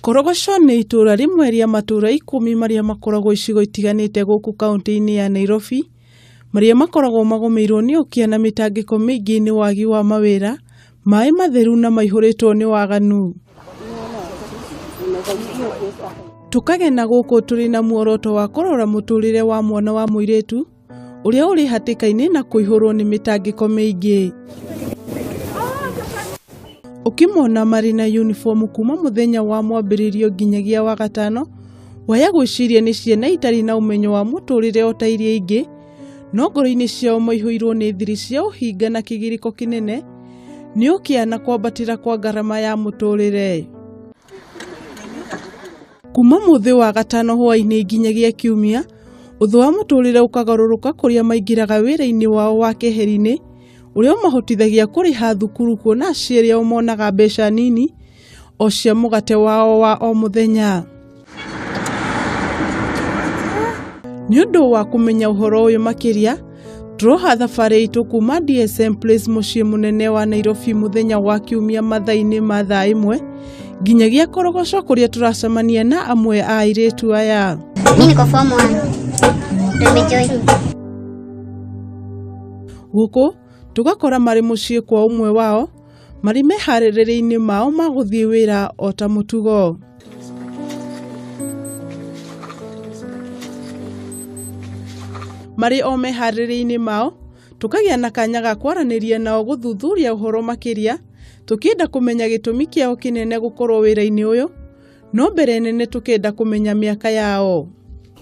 Korogoco nĩ itũũra rĩmwe rĩa matũũra ikũmi marĩa makoragwo icigo itiganĩte gũkũ kaunti-inĩ ya Nairobi, marĩa makoragwo magũmĩirwo nĩ ũkĩa na mĩtangĩko mĩingĩ nĩ wagi wa mawĩra, maĩ matheru na maihũrĩtwo nĩ waganu. Tũkagena gũkũ tũrĩ na muoroto wa kũrora mũtũrĩre wa mwana wa mũirĩtu ũrĩa ũrĩ hatĩka-inĩ na kũihũrwo nĩ mĩtangĩko mĩingĩ ũkĩmona marĩ na yunibomu kuma mũthenya wa mwambĩrĩrio nginyagia wa gatano waya gwĩciria nĩ ciana itarĩ na ũmenyo wa mũtũrĩre o ta iria ingĩ no ngoro-inĩ ciao maihũirwo nĩ thiri cia ũhinga na kĩgirĩko kĩnene nĩ ũkĩa na kwambatĩra kwa ngarama ya mũtũrĩre kuma mũthĩ wa gatano hwaĩ-inĩ nginyagia kiumia ũthũ wa mũtũrĩre ũkagarũrũka kũrĩa maingĩraga wĩra-inĩ wao wa keheri-inĩ ũrĩa ũmahotithagia kũrĩha thukuru kuona aciari ao monaga mbeca nini o cia mũgate wao wa o mũthenya nĩ ũndũ wa kũmenya ũhoro ũyũ makĩria Tũroha thabarĩ itũ kuma DSM Place mũciĩ mũnene wa Nairobi mũthenya wa kiumia mathaa-inĩ ma thaa ĩmwe nginyagia korogoco kũrĩa tũracemania na amwe a airĩtu aya. Mimi niko form 1. Ndio nimejoin. Gũkũ tũgakora marĩ mũciĩ kwa ũmwe wao marĩ meharĩrĩria-inĩ mao ma gũthiĩ wĩra o ta mũtugo. Marĩ o meharĩrĩria-inĩ mao, tũkagĩa na kanya ga kwaranĩria nao gũthuthuria ũhoro makĩria, tũkĩenda kũmenya gĩtũmi kĩao kĩnene gũkorwo wĩra-inĩ ũyũ, no mbere nene tũkenda kũmenya mĩaka yao.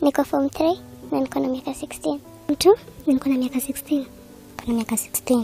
Niko form 3 na niko na miaka 16. Mtu niko na miaka 16. Niko na miaka 16.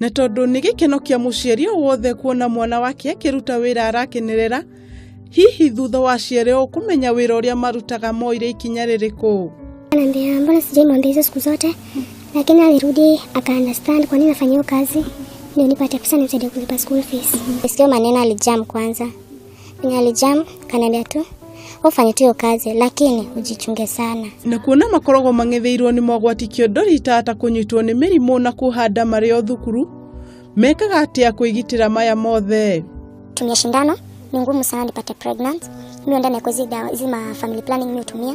na tondũ nĩ gĩkeno kĩa mũciari o wothe kuona mwana wake akĩruta wĩra arakenerera hihi thutha wa ciarĩ o kũmenya wĩra ũrĩa marutaga moire ikinya rĩrĩkũ Ananiambia mbona sijaimwambia hizo siku zote, lakini alirudi aka understand kwa nini nafanya hiyo kazi, ndio nipate pesa nimsaidie kulipa school fees. Sio maneno alijam kwanza, Penye alijam kanaambia tu ufanye tu hiyo kazi, lakini ujichunge sana. na kuona makoragwo mang'etheirwo nĩ mogwati kĩondori ta ta kũnyitwo nĩ mĩrimũ na kũhanda marĩ o thukuru mekaga atĩa kwĩgitĩra maya mothe Tumia shindano, ni ngumu sana nipate pregnant. Mi huenda na hizi dawa hizi ma family planning mi hutumia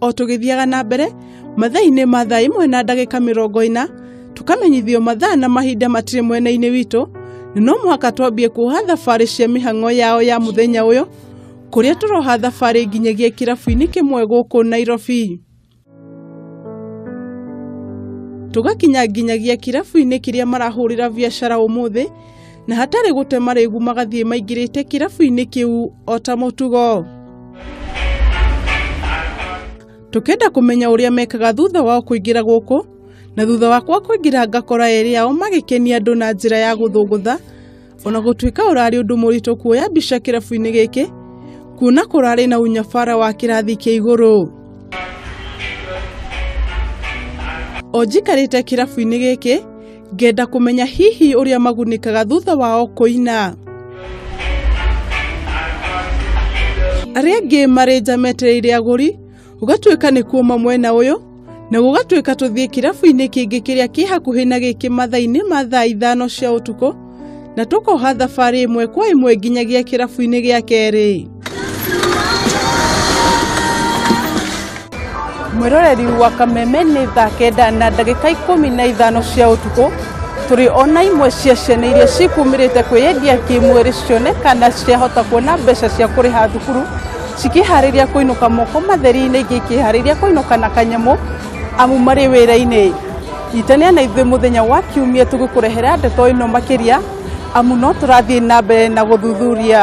O tũgĩthiaga na mbere, mathaa-inĩ ma thaa imwe na ndagĩka mĩrongo ĩna, tũkamenyithio mathaa na mahinda matirĩ mwena-inĩ witũ, na no mũhaka twambie kuoha thabarĩ cia mĩhang'o yao ya mũthenya ũyũ, kũrĩa tũroha thabarĩ nginyagia kĩrabu-inĩ kĩmwe gũkũ Nairobi. Tũgakinya nginyagia kĩrabu-inĩ kĩrĩa marahũrĩra biacara ũmũthĩ, na hatarĩ gũte marĩgu magathiĩ maingĩrĩte kĩrabu-inĩ kĩu o ta mũtugo tũkenda kũmenya ũrĩa mekaga thutha wao kũingĩra gũkũ na thutha wakwa kũingĩra ngakora erĩ ao magĩkenia andũ na njĩra ya gũthũngũtha ona gũtuĩka ũrarĩ ũndũ mũritũ kuoya mbica kĩrabu-inĩ gĩkĩ kuona kũrarĩ na unyabara wa kĩrathi kĩa igũrũ o njikarĩte kĩrabu-inĩ gĩkĩ Ngenda kũmenya hihi ũrĩa magunĩkaga thutha wao kũina. Arĩa angĩ marĩ nja metereire agũri, gũgatuĩka nĩ kuoma mwena ũyũ, na gũgatuĩka tũthiĩ kĩrabu-inĩ kĩngĩ kĩrĩa kĩ hakuhĩ na gĩkĩ mathaa-inĩ ma thaa ithano cia ũtukũ, na tũkoha thabarĩ ĩmwe kwa ĩmwe nginyagia kĩrabu-inĩ gĩa kerĩ. Mwĩroreri wa Kameme nĩ thaa kenda na ndagĩka ikũmi na ithano cia ũtukũ tũrĩ ona imwe cia ciana iria cikumĩrĩte kwĩyendia kĩmwĩrĩ cione kana ciahota kuona mbeca cia kũrĩha thukuru cikĩharĩria kũinũka moko matheri-inĩ ingĩ ikĩharĩria kũinũka na kanyamũ amu marĩ wĩra-inĩ itania na ithuĩ mũthenya wa kiumia tũgĩkũrehera ndeto ĩno makĩria amu no tũrathiĩ na mbere na gũthuthuria